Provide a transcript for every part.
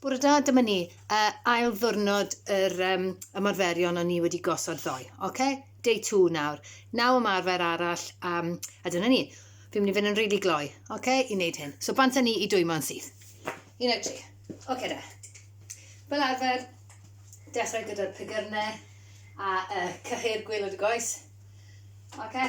Bore da, dyma ni. Uh, ail ddwrnod yr um, ymarferion o'n ni wedi gosod ddoe. Oce? Okay? Day 2 nawr. Naw ymarfer arall. Um, a dyna ni. Fi'n mynd i fynd yn rili really gloi. Oce? Okay? I wneud hyn. So bant â ni i dwymo'n syth. Un o'r tri. Oce okay, da. Fel arfer, dechrau gyda'r pigyrnau a uh, cyhyr gwylod y goes. Oce? Okay?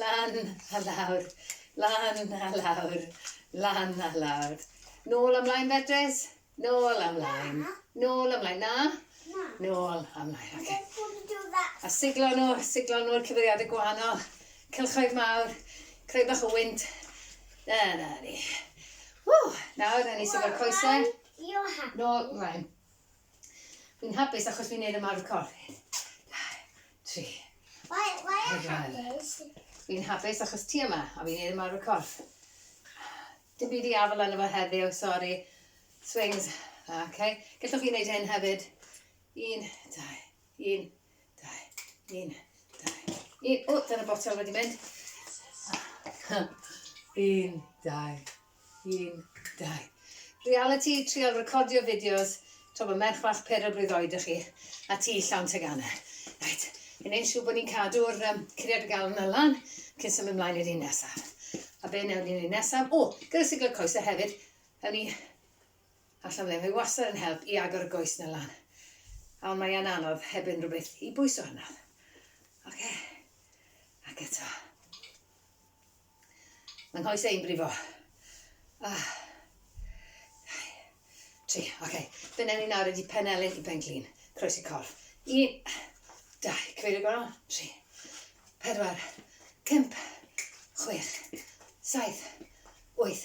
Lan a lawr, lan a lawr, lan a lawr. Nôl ymlaen, Beatrice. Nôl ymlaen. Nôl ymlaen. Na? Na. Nôl ymlaen, oce. Okay. A siglo nhw, siglo nhw'r cyfeiriadau gwahanol. Cylchoedd mawr, creu bach o wynt. Na, na, ni. Ww, nawr, rhaid ni siglo'r coesau. Nôl ymlaen. Fi'n hapus achos fi'n neud ymarfer corff. Tri. Why, why are you hapus? Fi'n hapus achos ti yma, a fi'n neud ymarfer corff. Dim byd i afel yna fo heddiw, sori. Swings. Oce. Okay. Gellwch chi wneud hyn hefyd. Un, dau, un, dau, un, dau, un. O, dyna botel wedi mynd. un, dau, un, dau. Reality, trial recordio fideos. To mae merch fach pedair blwydd oed ych chi, a ti llawn teganau. Right, yn ein siw bod ni'n cadw'r um, curiad y galon yna lan, cyn symud ymlaen i'r un nesaf. A be nawr ni'n un nesaf? O, gyda siglo coesau hefyd, ewn ni Allan fan hyn. Mae wastad yn help i agor y goes 'na lan. A ond mae yn anodd heb unrhyw beth i bwyso arno. Oce. Ac eto. Mae nghoes ein brifo. Ah. Tri. Oce. Fe newn ni nawr ydi pen elyn i pen glin. Croesi corff. Un. Dau. Cyfeirio gorau. Tri. Pedwar. Pump. Chwech. Saith. Wyth.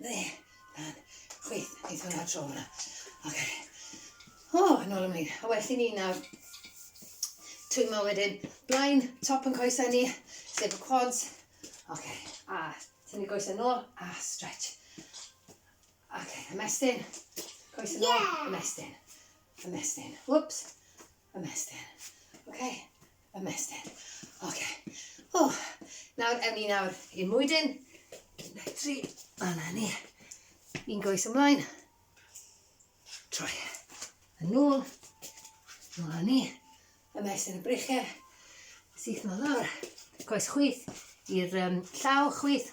Dde, dan, chwith, neith hwnna tro hwnna. Oce. O, yn ôl ymlaen. A well i ni nawr twymo wedyn blaen top yn coesau ni, sef y quads. Oce, a tynnu coesau nôl a stretch. Oce, ymestyn, coesau nôl, ymestyn, ymestyn. Whoops, Ymestyn. Oce. Ymestyn. Oce. O! Nawr, ewn ni nawr i'r mwydyn. Un, dau, tri. A na ni. Un goes ymlaen. Troi. Yn ôl. Nôl a ni. Ymestyn y brichau. Syth nôl lawr. Coes chwith i'r um, llaw chwith.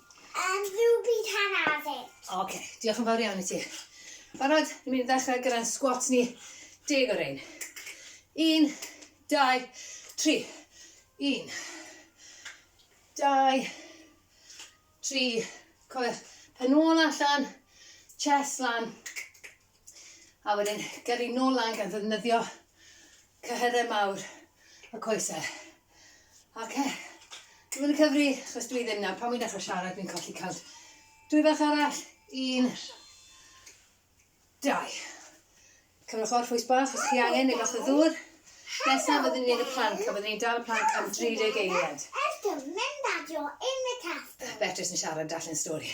Yym, rhywbryd hanner awr. Oce, diolch yn fawr iawn i ti. Barod? Ni'n mynd i ddechrau gyda'n squats ni. Deg o rein. Un, dau, tri. Un, dau, tri. Cofiwch, pen ôl allan, chest lan. A wedyn gyrru nôl lan gan ddefnyddio cyhyrau mawr y coesau. Oce. Dwi'n mynd i cyfri, chos dwi ddim nawr. Pan wy'n dechrau siarad, dwi'n colli cawnt. Dwy fach arall. Un. Dau. Cymryd chwar ffwys bach os chi angen, neu bach o ddŵr. Nesaf byddwn ni'n gwneud y planc, a byddwn ni'n dal y planc am 30 eiliad. Beatrice yn siarad, darllen stori.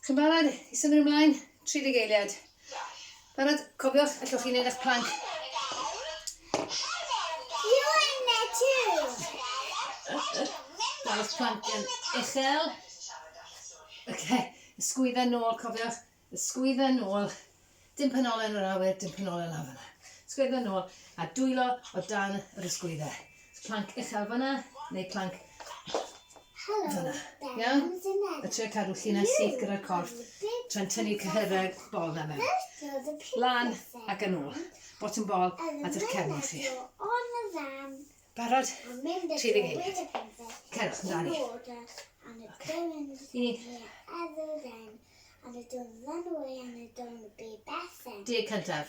Chi'n barod i symud ymlaen? Tri deg eiliad. Barod? Cofiwch, allwch chi wneud eich plank. You in there too. Dangos plank yn uchel. Okay, ysgwydda nôl, cofiwch. Ysgwydda nôl. Dim penolen yr awyr, dim penolen lawr yna. Ysgwydda nôl a dwylo o dan yr ysgwydda. Plank uchel fanna, neu plank fanna. Iawn? A trio cadw llinell syth gyda'r corff tra'n tynnu cyhyrau'r bol na mewn. Lan ac yn ôl. Bottom bol at eich cefn chi. Barod? 30 eiliad. Cerwch amdani. Okay. Un. Deg cyntaf.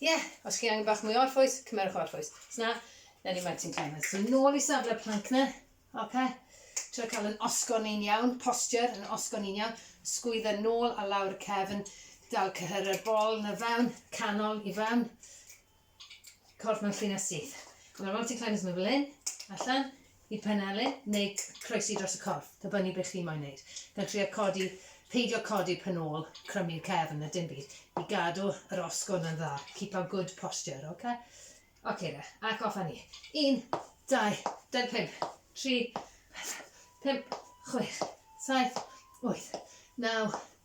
Ie, yeah, os chi angen bach mwy o orffwys, cymerwch o orffwys. Os na, na ni mae ti'n cael. So nôl i safle planc na. Ok. Tro cael yn osgo ni'n iawn, posture yn osgo ni'n iawn. Sgwydda nôl a lawr cefn. Dal cyhyr y bol na fewn, canol i fewn. Corff mewn llun a syth. Ond mae'r mountain climbers mewn fel hyn, allan, Y penelin neu croesi dros y corff, dibynnu beth chi moyn wneud. Gan trio codi, peidio codi pen ôl, crymu'r cefn na dim byd, i gadw yr osgwrn yn dda, keep our good posture, ok? Ok de, ac off a ni. Un, dau, dair pump, tri, pedwar, pump, chwech, saith, wyth, naw,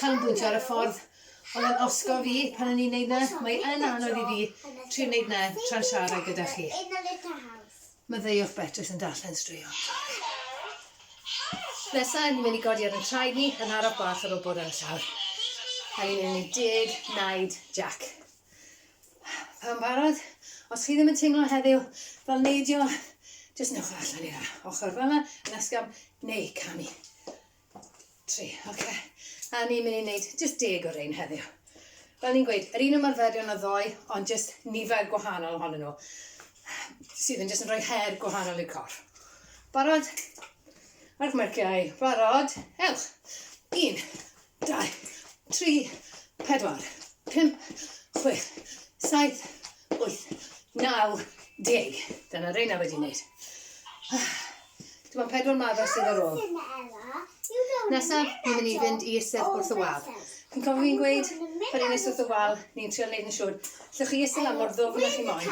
canolbwyntio ar y ffordd oedd yn osgo fi pan o'n i'n neud 'na. Mae yn anodd i fi trio neud 'na tra'n siarad gyda chi. Maddeuwch Betws yn darllen straeon. Nesa, ni'n mynd i godi ar yn traed ni yn araf bach ar ôl bod ar y llawr. A ni'n mynd i deg naid Jack. Pam barod? Os chi ddim yn teimlo heddiw fel neidio, jyst newch allan i'r ochr fel yna, yn ysgafn neu camu. Tri, oce. Okay. A ni'n mynd i wneud just deg o rein heddiw. Fel ni'n gweud, yr un ymarferion o ddoe, ond just nifer gwahanol ohonyn nhw, sydd yn just yn rhoi her gwahanol i'r cor. Barod? Mae'r merciau, barod, ewch. Un, dau, tri, pedwar, pump, chwech, saith, wyth, naw, deg. Dyna reina wedi wneud. Dim ond pedwar maddau sydd ar ôl. Nesaf, ni'n mynd i fynd i eistedd wrth y wal. Chi'n cofio fi'n gweud, pan ni'n eistedd wrth y wal, ni'n trio neud yn siŵr, lle chi eistedd lan mor ddofn â chi moyn,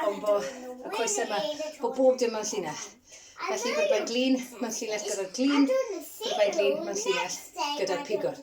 ond bo y coesau yma, bo bob dim mewn llinell. Felly, byddai'n glin mewn llinell gyda'r glin, byddai'n glin mewn llinell gyda'r pigwr.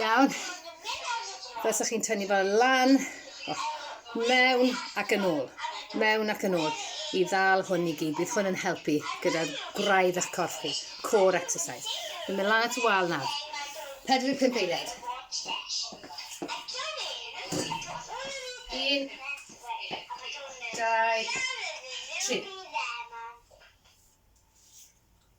Iawn. Fel chi'n tynnu fo lan, o, mewn ac yn ôl, mewn ac yn ôl, i ddal hwn i gyd. Bydd hwn yn helpu gyda gwraidd eich corff chi, core exercise. Dwi'n mynd lan at y wal nawr. 45 eiliad. Un, dau, tri.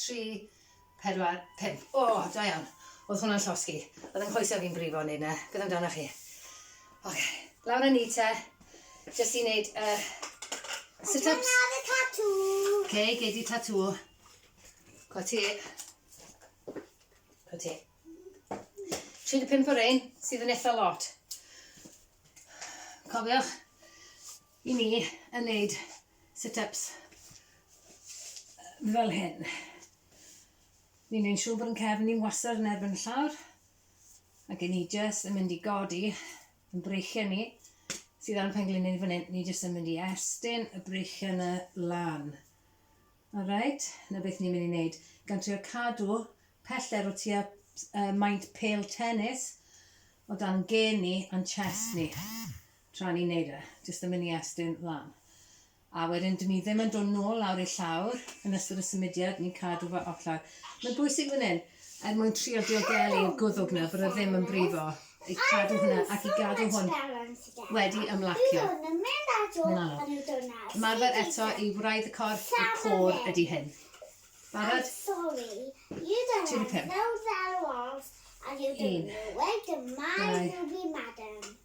Tri, pedwar, pump. O, da iawn. Oedd hwnna'n llosgi. Oedd yng nghoesau fi'n brifo yn neud na. Beth amdanoch chi? Oce. Lawr â ni te. Jyst i neud y uh, sit-ups. Dyna dy tatŵ. Oce, gei di tatŵ. Cwa ti. Cwa ti. 35 o rein sydd yn eitha lot. Cofiwch i ni yn neud sit-ups fel hyn. Ni'n ein siŵr bod yn cefn ni'n wasser yn erbyn y llawr, ac ni jyst yn mynd i godi yn breichiau ni sydd ar y penglin ni fan hyn, ni jyst yn mynd i estyn y breichiau yna lan. Alright, na beth ni'n mynd i wneud. Gan trio cadw peller o tua uh, maint pel tennis o dan gen ni a'n chest ni. tra ni'n neud e, jyst yn mynd i estyn lan. A wedyn dyn ni ddim yn dod nôl lawr i'r llawr yn ystod y symudiad, ni'n cadw fe off lawr. Mae'n bwysig fan hyn, er mwyn trio diogelu y gwddwg na, bod e ddim yn brifo, i cadw hwnna ac i gadw hwn wedi ymlacio. Mae'n anodd. Marfer eto i wraidd y corff, y côr ydy hyn. Barod? Ti di pum. Un. Dau.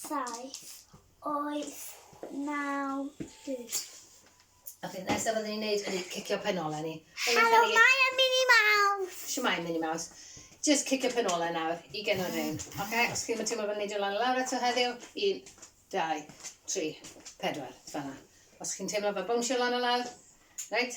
saith, oes, naw, dwys. A fe nesaf fyddwn ni'n neud ydy cicio pen olau ni. Helo, mae y Mini Maws! Siwmai, Mini Maws. Just cicio pen olau nawr i gen o'r hyn. Oce, okay? os chi'n teimlo fel neidio lan y lawr eto heddiw, un, dau, tri, pedwar, fanna. Os chi'n teimlo fel bwnsio lan y lawr, reit,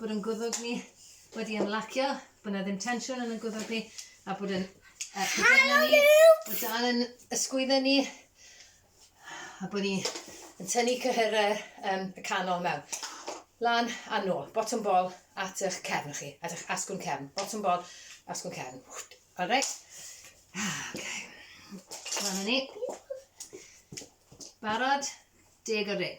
bod yn gwddwg ni wedi ymlacio, bod yna ddim tensiwn yn y gwddwg ni, a bod yn Hello ni, bod dal yn ysgwydda ni, a bod ni yn tynnu cyhyrau um, y canol mewn. Lan a nôl, bottom ball at eich cefn chi, at eich asgwn cefn. Bottom ball, asgwn cefn. Alright? Okay. Lan ni. Barod, deg o rein.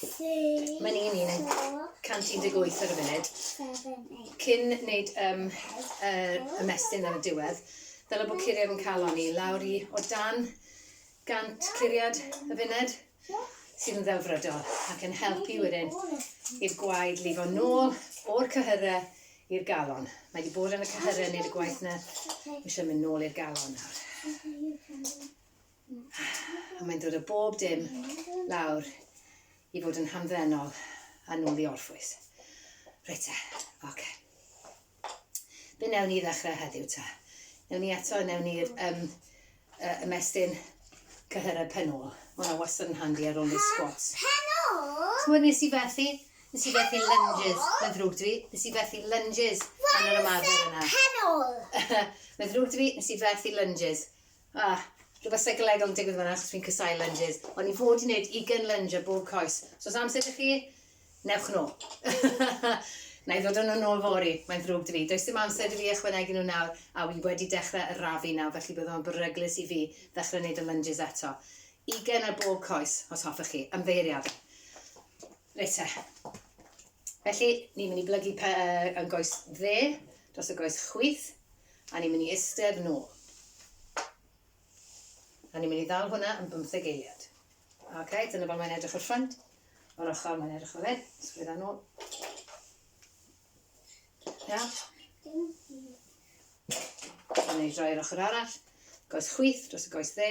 Mae'n un un, 118 ar y funud. Cyn wneud um, er, ymestyn ar y diwedd, dylai bod curiad yn cael oni lawr i o dan 100 curiad y funud sydd yn ddelfrydol ac yn helpu wedyn i'r gwaed lifo nôl o'r cyhyrau i'r galon. Mae wedi bod yn y cyhyrau nid y gwaith na eisiau mynd nôl i'r galon nawr. A mae'n dod o bob dim lawr i fod yn hamddenol a nôl i orffwys. Reit te, oce. Okay. Be newn ni ddechrau heddiw te? Newn ni eto, newn ni'r um, uh, ymestyn cyhyrau pen ôl. Mae hwnna wastad yn handi ar ôl i'r squats. Pen ôl? Ti'n nes i fethu? Nes i fethu lunges. Mae'n ddrwg dwi. Nes i fethu lunges yn yr ymarfer yna. Pen ôl? Mae'n ddrwg dwi. Nes i fethu lunges. Ah, rhywbeth seicolegol yn digwydd fan'na achos fi'n casau lunges. O'n i fod i wneud ugain lunge ar bob coes. So os amser ydych chi, newch nhw. Na i ddod o'n nhw'n ôl fori, mae'n ddrwg dy fi. Does dim amser dy fi ychwanegu nhw nawr, a wi wedi dechrau y rafu nawr, felly bydd o'n beryglus i fi ddechrau wneud y lunges eto. Ugain ar bob coes, os hoffech chi. Ymddeiriadau. Reit te. Felly, ni'n mynd i blygu pe, uh, yn goes dde dros y goes chwith, a ni'n mynd i istedd nôl. A ni'n mynd i ddal hwnna yn bymtheg eiliad. Ok, dyna fel mae'n edrych o'r ffrind. O'r ochr mae'n edrych fel hyn. Sgwydda nôl. Ia? Yn ei droi'r ochr arall. Goes chwith dros y goes dde.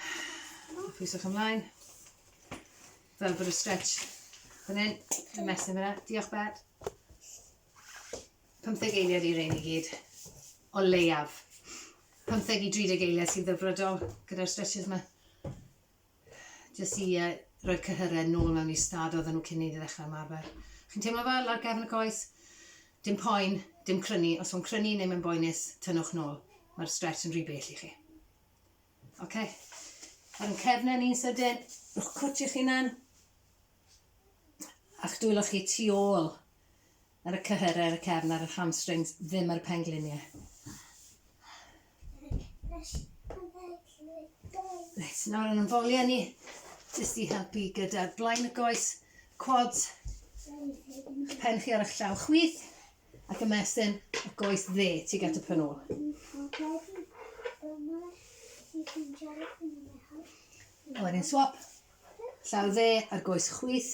Hwff. Pwyswch ymlaen. Fel bod y stretch fan hyn. Y mesyn fyna. Diolch bed. 15 eiliad i rein i gyd. O leiaf. 15 i 30 eiliad sy'n ddyfrodol gyda'r stretches yma. Jyst i uh, roi cyhyrau nôl mewn i stad oedden nhw cyn i ni ddechrau ymarfer. Chi'n teimlo fel lawr gefn y coes? Dim poen, dim crynu. Os o'n crynu neu mae'n boenus, tynnwch nôl. Mae'r stretch yn rhy bell i chi. Ok. Ar yn cefnau ni'n sydyn, rhowch cwt i'ch hunan, a'ch dwylo chi tu ôl ar y cyhyrau, ar y cefn, ar yr hamstrings, ddim ar y pengliniau. Reit, nawr yn ymfoliau ni, jyst i helpu gyda'r blaen y goes, quads, pen chi ar eich llaw chwith, Ac ymestyn y goes dde tuag at y pen ôl. A wedyn swap. Llaw dde ar goes chwith.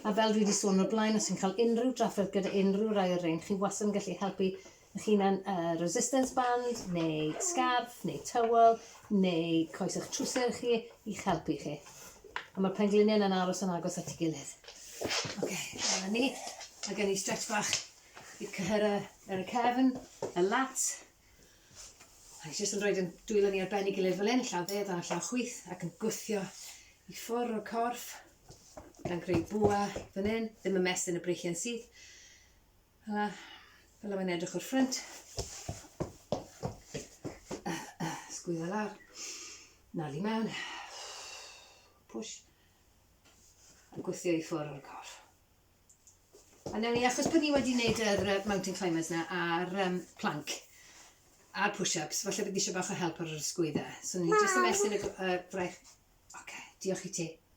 A fel dwi wedi sôn o'r blaen, os chi'n cael unrhyw drafferth gyda unrhyw rai o'r rein, chi wastad yn gallu helpu eich hunan uh, resistance band, neu scarf, neu towel, neu coes ych trwser chi i'ch helpu chi. A ma'r penglinie yna'n aros yn agos at 'i gilydd. Oce, dyna ni. Mae gen i stretch bach i cyhyrra ar y cefn, y lat. A ni jyst yn rhoi yn dwylo ni ar ben 'i gilydd fel hyn, llaw dde dan llaw chwith, ac yn gwthio i ffwrdd o'r corff, gan greu bwa fan hyn, ddim yn mestyn y breichiau'n syth. Hela, fel mae'n edrych o'r ffrynt. Sgwydda lawr. Nal i mewn. Push. A gweithio i ffwrdd o'r corff. A newn ni, achos bod ni wedi gwneud yr uh, mountain climbers na a'r um, plank, a'r push-ups, falle bod ni eisiau bach o help ar yr ysgwydda. So ni'n just ymestyn y uh, fraich. Oce, okay, diolch i ti.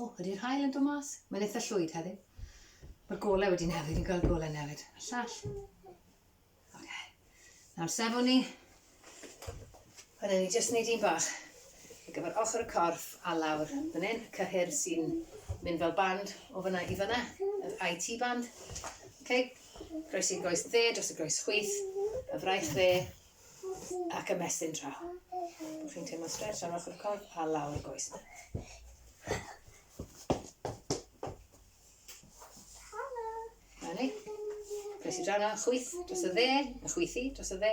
O, ydy'r hael yn dod mas? Mae'n eitha llwyd heddi. Mae'r golau wedi newid, fi'n gweld golau newid. Y llall. Oce. Okay. Nawr sefwn ni. A ni jyst wneud un bach ar gyfer ochr y corff a lawr fan hyn, y cyhyr sy'n mynd fel band o fyna i fyna, yr IT band. Okay. Groes i'r groes dde dros y groes chwith, y fraich dde ac ymestyn draw. Bod chi'n teimlo stretch ar ochr y corff a lawr y goes. Na ni. Croes i draw na, chwyth dros y dde, a chwythi dros y dde.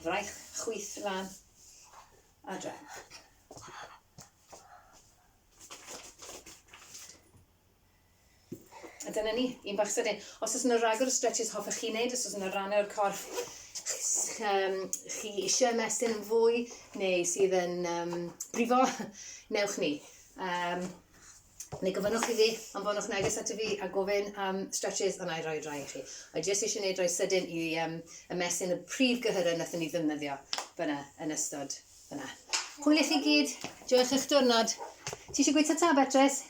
Fraich, chwyth lan, a draw. A dyna ni, un bach sydyn. Os oes yna ragor o stretches hoffech chi wneud, os oes yna rannau o'r corff um, chi eisiau ymestyn yn fwy neu sydd yn um, brifo, newch ni. Um, neu gofynnwch i fi, ond fodwch neges ato fi a gofyn am um, stretches a na i roi rai i chi. A jyst eisiau gwneud rhoi sydyn i um, ymestyn y prif gyhyrau nath ni ddefnyddio fyna yn ystod fyna. Hwyl i chi gyd, joiwch eich diwrnod. Ti eisiau gweithio ta, Beatrice?